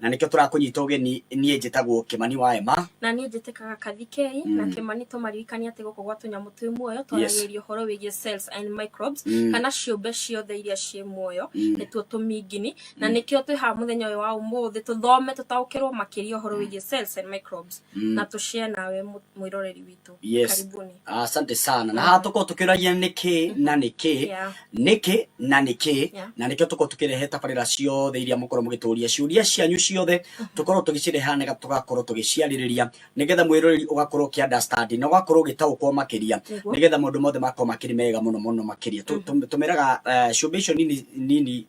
Na nĩkĩo tũrakũnyita ũgeni niĩ njĩtagwo Kĩmani wa Ema. Na niĩ njĩtĩkaga Kathikei mm. na Kĩmani tũmaririkania atĩ gũkũ gwa tũnyamũ twĩ muoyo twaragĩrĩria ũhoro wĩgiĩ cells and microbes mm. kana ciũmbe ciothe iria ciĩ muoyo mm. nĩtuo tũmingini mm. na nĩkĩo twĩ haha mũthenya ũyũ wa ũmũthĩ tũthome tũtaũkĩrwo makĩria ũhoro mm. wĩgiĩ cells and microbes mm. na tũshare nawe mwĩroreri witũ. yetu yes. karibuni asante sana na haha tukorwo tukiragia niki na niki Yeah. niki na niki Yeah. na nikio tukorwo tukirehe tabarira ciothe iria mukorwo mugituria ciuria cianyu ciothe tukorwo tugicireha nega tugakorwo tugiciaririria nigetha mwiroreri ugakorwo ki understand na ugakorwo ugitaukwo makiria Niguo. nigetha maundu mothe makorwo makiri mega muno muno makiria Tu- tu- tumeraga eh, cumbĩ icio nini nini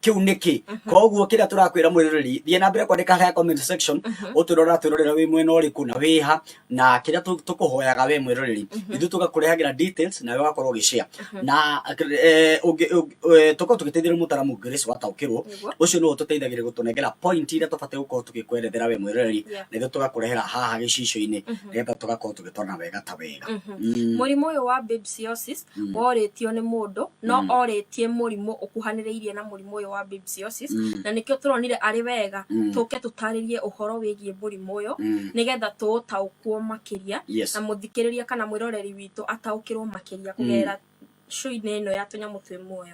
kiu niki koguo kiria turakwira mwiroreri thie na mbere kwandika haya comment section uturora turorera wi mwena uriku na wiha na kiria tu- tukuhoyaga we mwiroreri ithu tugakurehagira details na we ugakorwo ugishare na eh, ungi- ungi- eh, tukorwo tugiteithĩrĩria mũtaramu Grace wataũkĩrwo Nĩguo. ũcio nĩwe ũtũteithagĩrĩria gũtũnengera point iria tũbatiĩ gũkorwo tũgĩkwerethera we mwĩroreri Yeah. nĩguo tũgakũrehera haha gĩcicio-inĩ nĩgetha tũgakorwo tũgĩtwarana wega ta wega Mm. mũrimũ ũyũ wa babesiosis mm. worĩtio nĩ mũndũ no mm. orĩtie mũrimũ ũkuhanĩrĩirie na mũrimũ ũyũ wa babesiosis mm. na nĩkĩo tũronire arĩ wega mm. tũke tũtarĩrie ũhoro wĩgiĩ mũrimũ ũyũ mm. nĩgetha tũũtaũkwo makĩria yes. na mũthikĩrĩria kana mwĩroreri witũ ataũkĩrwo makĩria kũgerera mm. show-inĩ ĩno ya tũnyamũ twĩ muoyo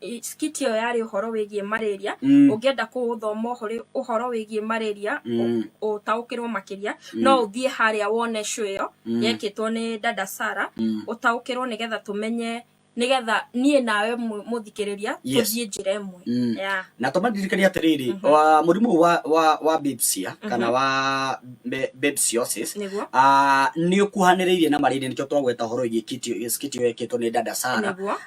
i- skit ĩyo yarĩ ũhoro wĩgiĩ malaria Mm. ũngĩenda kũũthoma ũhoro- ũhoro wĩgiĩ malaria Mm. ũ- ũtaũkĩrwo makĩria no ũthiĩ harĩa wone show ĩyo yekĩtwo nĩ dada sara Mm. ũtaũkĩrwo nĩgetha tũmenye nĩgetha niĩ nawe mũ- mũthikĩrĩria Yes. tũthiĩ njĩra ĩmwe Mm. Yeah. na tũmandirikania atĩrĩrĩ wa- mũrimũ ũyũ wa, wa, wa bipsia kana wa be- bipsiosis Nĩguo. ah, nĩ ũkuhanĩrĩirie na marĩria nĩkĩo twagweta ũhoro wĩgiĩ kitio- skit ĩyo yekĩtwo nĩ dada sara Nĩguo.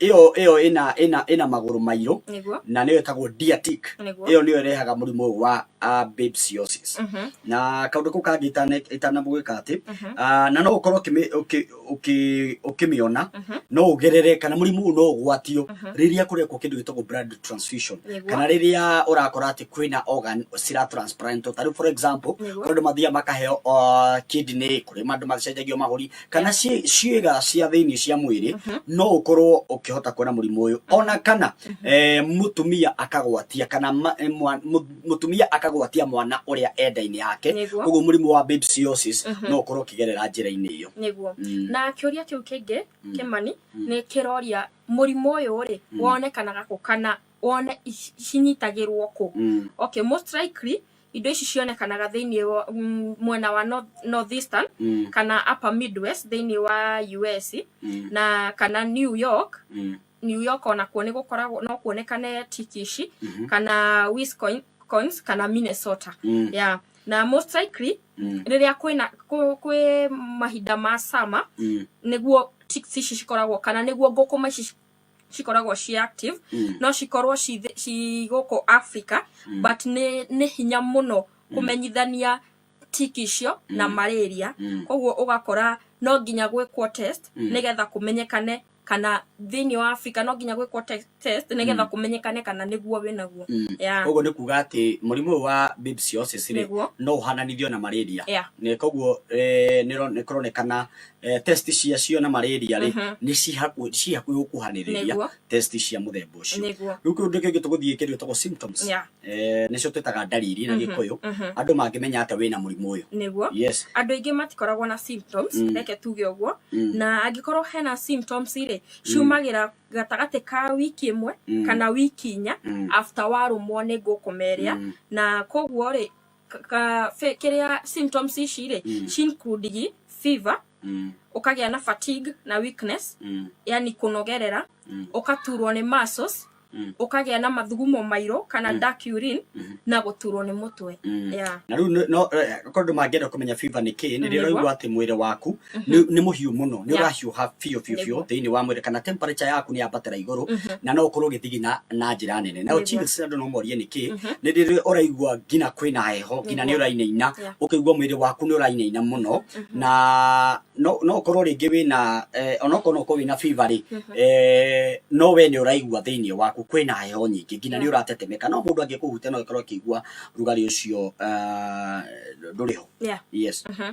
ĩyo ĩyo ĩna ĩna ĩna magũrũ mairũ nĩguo na nĩyo ĩtagwo diatic nĩguo ĩyo nĩyo ĩrehaga mũrimũ ũyũ wa ah, babesiosis Mhm, na kaũndũ kau kangĩ itana- itanamũgĩka atĩ mhm, ah, na no ũkorwo ũkĩmĩ- ũkĩ- ũkĩ- ũkĩmĩona mhm, no ũgerere kana mũrimũ ũyũ no ũgwatio mhm. rĩrĩa kũrekwo kĩndũ gĩtagwo blood transfusion Nĩguo. kana rĩrĩa ũrakora atĩ kwĩna organ cira transplantwo ta rĩu for example Nĩguo. kũrĩ andũ mathiaga makaheo uh, kidney kũrĩ andũ macenjagio mahũri kana ciĩ- ciĩga cia thĩinĩ cia mwĩrĩ no ũkorwo ũkĩhota kuona mũrimũ ũyũ ona kana eh, mũtumia akagwatia kana ma- eh, mwa- mũ- mũtumia akagwatia mwana ũrĩa enda-inĩ yake Nĩguo. koguo mũrimũ wa babesiosis no ũkorwo ũkĩgerera njĩra-inĩ ĩyo nĩguo Mm. na kĩũria kĩu kĩngĩ kĩmani nĩ kĩroria mũrimũ ũyũ rĩ wonekanaga kũ kana wone ici- cinyitagĩrwo kũ Mm. okay most likely indo ici cionekanaga thĩinĩ wa mm, mwena wa north, northeastern Mm. kana upper midwest thĩinĩ wa us Mm. na kana new york Mm. new york onakuo nĩ gũkoragwo no kuonekane tiki ici Mhm. kana wisconsin kana minnesota Mm. yeah. na most likely Mm. rĩrĩa kwĩna kwĩ- kwĩ mahinda ma sama Mm. nĩguo tiki ici cikoragwo kana nĩguo ngũkũma ici cikoragwo ci active Mm. no cikorwo ci thĩ- ci gũkũ africa Mm. but nĩ nĩ hinya mũno kũmenyithania tiki icio na Mm. malaria Mm. koguo ũgakora no nginya gwĩkwo test Mm. nĩgetha kũmenyekane kana thĩinĩ wa africa no nginya gwĩkwo te- test nĩgetha kũmenyekane kana nĩguo wĩnaguo Mm. Yeah. koguo nĩ kuga atĩ mũrimũ ũyũ wa bibsiosis rĩ Nĩguo. no ũhananithio na malaria Yeah. Nĩ- koguo eh, nĩro- nĩkũronekana eh, test ciacio na malaria rĩ Mhm. nĩ cihaku- ciĩ hakuhĩ gũkuhanĩrĩria Nĩguo. test cia mũthemba ũcio nĩguo rĩu kĩndũ kĩngĩ tũgũthiĩ kĩndũ gĩtagwo symptoms Yeah. Eh, nĩcio twĩtaga ndariri na gĩkũyũ mhm. andũ mangĩmenya atĩa wĩna mũrimũ ũyũ nĩguo yes andũ aingĩ matikoragwo na symptoms Mm. reke tuge ũguo Mm. na angĩkorwo hena symptoms rĩ ciumagĩra gatagatĩ ka wiki ĩmwe Mm. kana wiki inya Mm. after warũmwo nĩ ngũkũmeria Mm. na koguo rĩ ka- ka- fe- kĩrĩa symptoms ici rĩ Mm. ci include gi fever Mm, ũkagĩa na fatigue na weakness mm, yani kũnogerera Mm. ũkaturwo nĩ muscles Mm. ũkagĩa na mathugumo mairũ kana dark urine na gũturwo nĩ mũtwe Mm. yeah. na rĩu nĩ- no eh, korwo andũ mangĩenda kũmenya fiva nĩ kĩĩ nĩ rĩo ũraigua atĩ mwĩrĩ waku nĩ nĩ mũhiũ mũno nĩ Yeah. ũrahiũha biũ biũ biũ Nĩguo. thĩinĩ wa mwĩrĩ kana temperature yaku nĩ yambatĩra igũrũ Mhm. na no ũkorwo ũgĩthigina na njĩra nene na Nĩguo. chills andũ no morie nĩkĩ Mhm. nĩ rĩrĩ ũraigua nginya kwĩna heho nginya nĩ Nĩguo. ũrainaina Yeah. ũkaigua mwĩrĩ waku nĩ ũrainaina mũno Mhm. na no no ũkorwo rĩngĩ wĩna eh, onokorwo no ũkorwo wĩna fever rĩ Mhm. eh, no we nĩ ũraigua thĩinĩ waku kwĩna heho nyingĩ nginya nĩ Yeah. ũratetemeka no mũndũ angĩkũhutia no ũkorwo ũkĩigua rugarĩ ũcio ah, ndũrĩ ho Yeah. yes Mhm.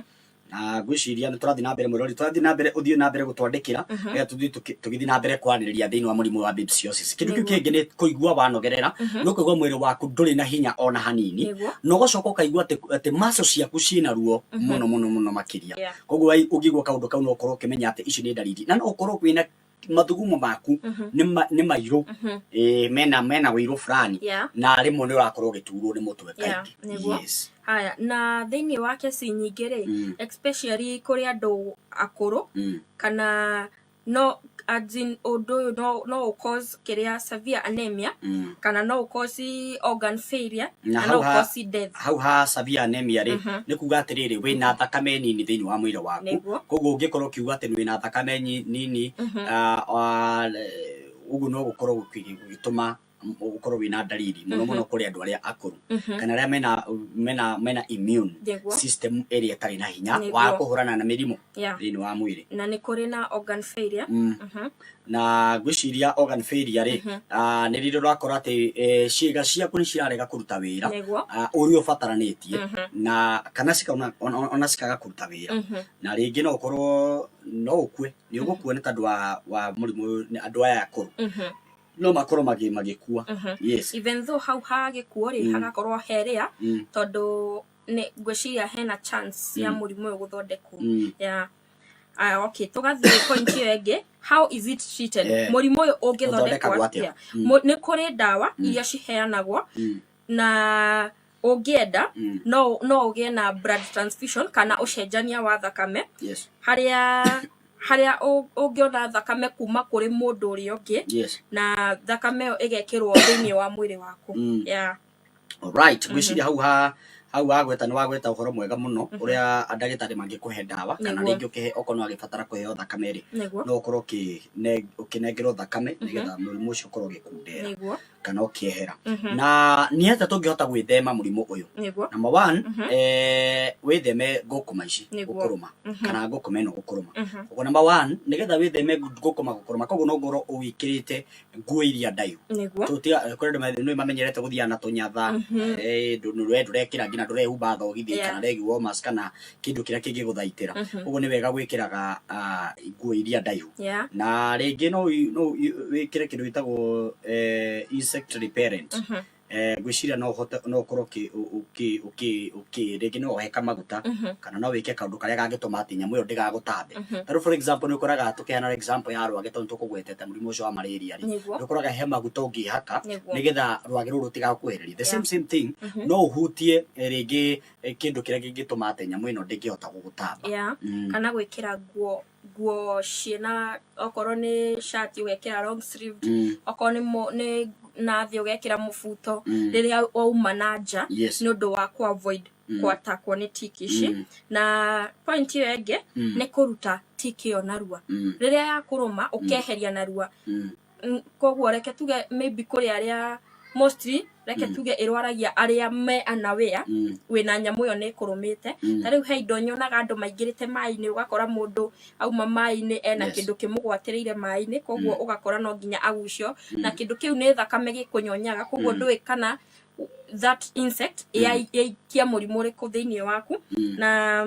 na ngwĩciria nĩ tũrathiĩ na mbere mwĩrori tũrathiĩ na mbere ũthiĩ na mbere gũtwandĩkĩra Mhm. rĩrĩa tũthiĩ tũkĩ- tũgĩthiĩ na mbere kwarĩrĩria thĩinĩ wa mũrimũ wa babsiosis kĩndũ kĩu Nĩguo. kĩngĩ nĩ kũigua wanogerera Mhm. nĩ kũigua mwĩrĩ waku ndũrĩ na hinya ona hanini Nĩguo. na ũgacoka ũkaigua atĩ atĩ maco ciaku ciĩna ruo Mhm. mũno mũno mũno makĩria Yeah. koguo ai- ũngĩigua kaũndũ kau no ũkorwo ũkĩmenya atĩ ici nĩ ndariri na no ũkorwo wĩna mathugumo maku Mhm. nĩ ma- nĩ mairũ Mhm. Eh, mena mena wĩirũ fulani Yeah. na rĩmwe nĩ ũrakorwo ũgĩturwo nĩ mũtwe Yeah, kaingĩ nĩguo. yes haya na thĩinĩ wa kesi nyingĩ rĩ Mm. especially kũrĩ andũ akũrũ Mm. kana no as in, ũndũ ũyũ no, no ũcause kĩrĩa severe anemia Mm. kana no ũkosi organ failure Na na no hau ha- ũkosi death hau ha severe anemia rĩ Mhm. nĩ kuga atĩrĩrĩ wĩ na thakame nini thĩinĩ wa mwĩrĩ waku Nĩguo. koguo ũngĩkorwo ũkiuga atĩ wĩ na thakame nyi- nini Mhm. ah, ah, eh, ũguo no gũkorwo gũkĩ- gũgĩtũma m- ũkorwo wĩ na ndariri mũno mũno kũrĩ andũ arĩa akũrũ Mhm. kana arĩa mena mena mena immune Nĩguo. system ĩrĩa ĩtarĩ na hinya Nĩguo. wa kũhũrana na mĩrimũ Yeah. thĩinĩ wa mwĩrĩ na nĩ kũrĩ na organ failure Mm. Mhm. na ngwĩciria organ failure rĩ Mhm. ah, nĩ rĩrĩa ũrakora atĩ eh, ciĩga ciaku nĩ cirarega kũruta wĩra nĩguo ah, ũrĩa ũbataranĩtie Mhm. na kana cikaona ona- ona- ona cikaga kũruta wĩra Mhm. na rĩngĩ no ũkorwo no ũkue nĩ ũgũkua nĩ tondũ wa, wa mũrimũ ũyũ, nĩ andũ aya akũrũ Mhm. no makorwo magĩ- magĩkua Mhm. yes even though hau ha gĩkuo rĩ Mm. hagakorwo heria mm, tondũ nĩ ngwĩciria hena chance ya Mm. mũrimũ ũyũ gũthondekwo mm. ya Aya, okay tũgathiĩ point ĩyo ĩngĩ how is it treated Eh. mũrimũ ũyũ ũngĩthondekwo Ũthondekagwo atĩa? atĩa Mm. Mu- nĩ kũrĩ ndawa iria ciheanagwo Mm. na ũngĩenda Mm. no no ũgĩe na blood transfusion kana ũcenjania wa thakame Yes. harĩa harĩa ũ- ũngĩona thakame kuma kũrĩ mũndũ ũrĩa ũngĩ Yes. na thakame ĩyo ĩgekĩrwo thĩinĩ wa mwĩrĩ waku Mm. yeah. Alright, ngwĩciria hau ha hau wagweta nĩ wagweta ũhoro mwega mũno ũrĩa ndagĩtarĩ mangĩkũhe ndawa kana Nĩguo. rĩngĩ ũkĩhe okorwo nĩ wagĩbatara kũheo thakame rĩ nĩguo no ũkorwo ũkĩne- ũkĩnengerwo thakame nĩgetha mũrimũ ũcio ũkorwo ũgĩkundera nĩguo kana ũkĩehera Mhm. na nĩ atĩa tũngĩhota gwĩthema mũrimũ ũyũ nĩguo number one Mhm. eh, wĩtheme ngũkũma ici Nĩguo. gũkũrũma Mhm. kana ngũkũma ĩno gũkũrũma Mhm. Koguo number one nĩgetha wĩtheme ngũkũma gũkũrũma koguo no ngorwo ũwĩkĩrĩte nguo iria ndaihu nĩguo kũrĩ andũ mathe- nĩ mamenyerete gũthiaga na tũnyatha Mhm. eh, ndũ- ndũ- we ndũrekĩra nginya ndũrehumba thogithi Yeah. kana regi womas kana kĩndũ kĩrĩa kĩngĩgũthaitĩra Mhm. ũguo nĩ wega gwĩkĩraga ah, nguo iria ndaihu yeah na rĩngĩ no wi- no wi- wĩkĩre kĩndũ gĩtagwo eh, insect repellent Mhm. eh, ngwĩciria no ũhote no ũkorwo ũkĩ- ũkĩ- ũkĩ- ũkĩ- rĩngĩ no ũheka maguta Mhm. kana no wĩke kaũndũ karĩa gangĩtũma atĩ nyamũ ĩyo ndĩgagũtambe Mhm. ta rĩu for example nĩ ũkoraga tũkĩhana example ya rwagĩ tondũ tũkũgwetete mũrimũ ũcio wa malaria rĩ Nĩguo. nĩ ũkoraga he maguta ũngĩhaka Nĩguo. nĩgetha rwagĩ rũrũ rũtigakuhĩrĩrie the Yeah. same same thing Mhm. no ũhutie eh, rĩngĩ eh, kĩndũ kĩrĩa kĩngĩtũma atĩ nyamũ ĩno ndĩngĩhota gũgũtamba Yeah. Mm. kana gwĩkĩra nguo nguo ciĩna okorwo nĩ shati ũgekĩra long sleeved Mm. okorwo nĩ mo- nĩ na thĩ ũgekĩra mũbuto Mm. rĩrĩa wauma na nja Yes. nĩ ũndũ wa ku avoid Mm. kwatakwo nĩ tiki ici Mm. na point ĩyo ĩngĩ Mm. nĩ kũruta tiki ĩyo narua Mm. rĩrĩa yakũrũma ũkeheria narua Mm. Mm, koguo reke tuge maybe kũrĩ arĩa mostly reke Mm. tuge ĩrwaragia arĩa me anawea Mm. wĩna nyamũ ĩyo nĩ ĩkũrũmĩte Mm. ta rĩu he indo nyonaga andũ maingĩrĩte maĩ-inĩ ũgakora mũndũ auma maĩ-inĩ ena Yes. kĩndũ kĩmũgwatĩrĩire maĩ-inĩ koguo Mm. ũgakora no nginya agucio Mm. na kĩndũ kĩu nĩ thakame gĩkũnyonyaga koguo Mm. ndũĩ kana that insect Mm. yai- yaikia mũrimũ ũrĩkũ thĩinĩ waku Mm. na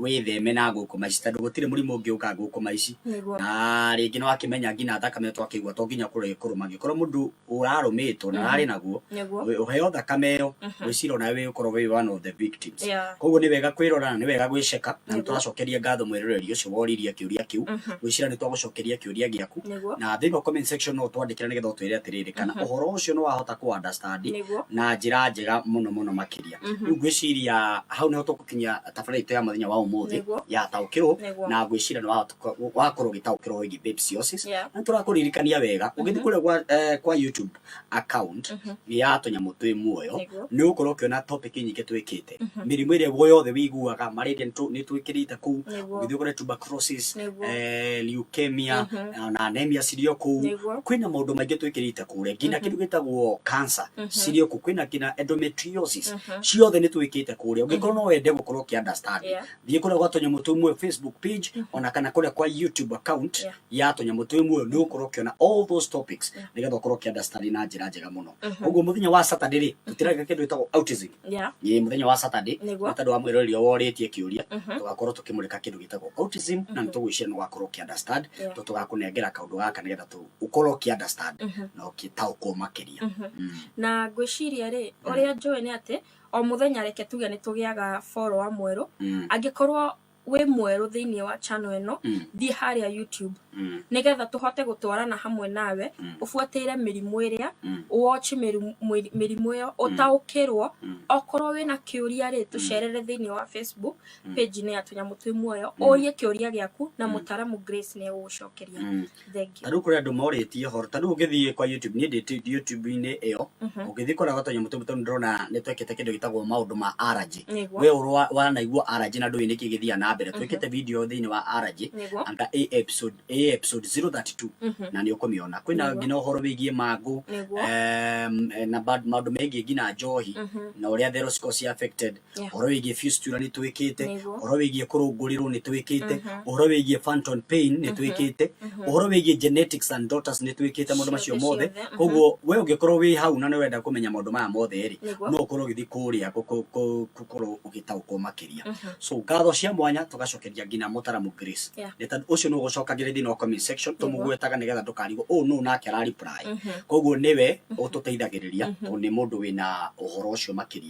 wĩtheme na ngũkũma ici tondũ gũtirĩ mũrimũ ũngĩ ũkaga ngũkũma ici Nĩguo. na rĩngĩ nĩ wakĩmenya nginya thakame twakĩigua to nginya kũrĩ kũrũma angĩkorwo mũndũ ũrarũmĩtwo na ararĩ naguo Nĩguo. we- ũheo thakame ĩyo wĩcira nawe wĩ ũkorwo wĩ one of the victims Yeah. koguo nĩ wega kwĩrora na nĩ wega gwĩceka na nĩ Nĩguo. tũracokeria ngatho mwĩroreri ũcio woririe kĩũria kĩu Mhm. gwĩcira nĩ twagũcokeria kĩũria gĩaku Nĩguo. na thĩinĩ wa comment section no twandĩkĩra nĩgetha ũtwĩre atĩrĩrĩ kana ũhoro ũcio nĩ wahota kũ understand Nĩguo. na njĩra njega mũno mũno makĩria Mhm. rĩu ngwĩciria hau nĩho tũgũkinyia tabarĩra itũ ya mũthenya wa ũmũthĩ Nĩguo. ya taũkĩrwo Nĩguo. na ngwĩciria nĩ watuka- wakorwo ũgĩtaũkĩrwo wĩgiĩ babes yosis Yeah. na tũrakũririkania wega ũgĩthiĩ kũrĩa gwa, eh, kwa youtube account nĩ ya tũnyamũ twĩ muoyo Nĩguo. nĩ ũgũkorwo ũkĩona topic nyingĩ twĩkĩte mĩrimũ ĩrĩa guo yothe wĩiguaga malaria nĩtũ- nĩtwĩkĩrĩte kũu Nĩguo. ũgĩthiĩ kũrĩa tuberculosis Nĩguo. eh, leukemia na anemia cirĩ o kũu Nĩguo. kwĩna maũndũ maingĩ twĩkĩrĩte kure nginya kindu gitagwo cancer cirio ku kwina kina endometriosis ciothe ni twikite kuria ungikorwo no wende gukorwo ki understand Yeah. thie kuria gwa tonyamu tumwe facebook page ona kana kuria kwa youtube account Yeah. ya tonyamu tumwe ni ukorwo ukiona all those topics nigetha ukorwo ki understand na njira njega muno koguo muthenya wa saturday ri tutiraga kindu gitagwo autism Yeah. ni muthenya wa saturday Nĩguo. nĩ tondũ wa mwĩroreri ũrĩa worĩtie kĩũria tũgakorwo tũkĩmũrĩka kĩndũ gĩtagwo autism na nĩ tũgwĩciria nĩ ũgakorwo ũkĩ understand Yeah. tondũ tũgakũnengera kaũndũ gaka nĩgetha tũ- ukorwo ki understand Mhm. na ukitaukwo makiria Mhm. Mm. na ngwĩciria rĩ Mm. ũrĩa njũĩ nĩ atĩ o mũthenya reke tuge nĩ tũgĩaga follower mwerũ Mm. angĩkorwo wĩ mwerũ thĩinĩ wa channel ĩno Mm. thiĩ harĩa youtube Mm. nĩgetha tũhote gũtwarana hamwe nawe Mm. ũbuatĩire mĩrimũ ĩrĩa Mm. watch mĩrimũ mwĩri- mĩrimũ ĩyo ũtaũkĩrwo Mm. okorwo wĩna kĩũria rĩ tũcerere thĩinĩ wa facebook Mm. page-inĩ ya tũnyamũ twĩ muoyo Mm. ũrie kĩũria gĩaku na Mm. mũtaramu grace nĩ egũgũcokeria Mm. Thank you. ta rĩu kũrĩ andũ morĩtie horo ta rĩu ũngĩthiĩ kwa youtube niĩ ndĩ tu- youtube-inĩ ĩyo Mhm. ũngĩthiĩ kũrĩa gatonya mũtũmbu tondũ ndĩrona nĩ twekĩte kĩndũ gĩtagwo maũndũ ma araji Nĩguo. we ũrwa wanaigua araji na ndũĩ nĩkĩ gĩthiaga na mbere twĩkĩte video thĩinĩ wa araji Nĩguo. anga a episode a episode 032 Mhm. na nĩ ũkũmĩona kwĩna Nĩguo. nginya ũhoro wĩgiĩ mangũ Nĩguo. em, eh, na ba- maũndũ megiĩ nginya njohi Mhm. na ũrĩa thero cikoragwo ci affected Yeah. ũhoro wĩgiĩ fistula nĩ twĩkĩte Nĩguo. ũhoro wĩgiĩ kũrũngũrĩrwo nĩ twĩkĩte ũhoro wĩgiĩ phantom pain nĩ twĩkĩte ũhoro wĩgiĩ genetics and daughters nĩ twĩkĩte maũndũ macio Ciothe, mothe ciothe, mhm. koguo we ũngĩkorwo wĩ hau na nĩ wenda kũmenya maũndũ maya mothe rĩ Nĩguo. no ũkorwo ũgĩthiĩ kũrĩa kũ- kũ- kũ- gũkorwo ũgĩtaũkwo makĩria so ngatho cia mwanya tũgacokeria nginya mũtaramu grace Yeah. nĩ tondũ ũcio nĩ ũgũcokagĩrĩria thĩinĩ wa comment section Nĩguo. tũmũgwetaga nĩgetha ndũkarigwo ũũ nũ nake arariply koguo nĩwe ũtũteithagĩrĩria tondũ nĩ mũndũ wĩna ũhoro ũcio makĩria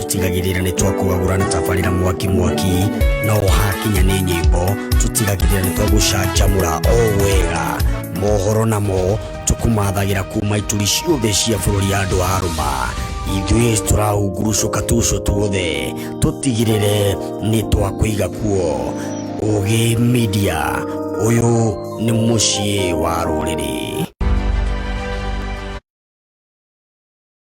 tutigagirira nĩ twakũgagũra na tabarĩra mwaki mwaki no hakinya nĩ nyĩmbo tũtigagirira nĩ twagũcanjamũra o wega mohoro namo tũkũmathagĩra kuma ituri ciothe cia bũrũri ya andũ a rũma ithuĩ tũrahungurucũka tuco tuothe tũtigirĩre nĩ twakũiga kuo ũgĩ media ũyũ nĩ mũciĩ wa rũrĩrĩ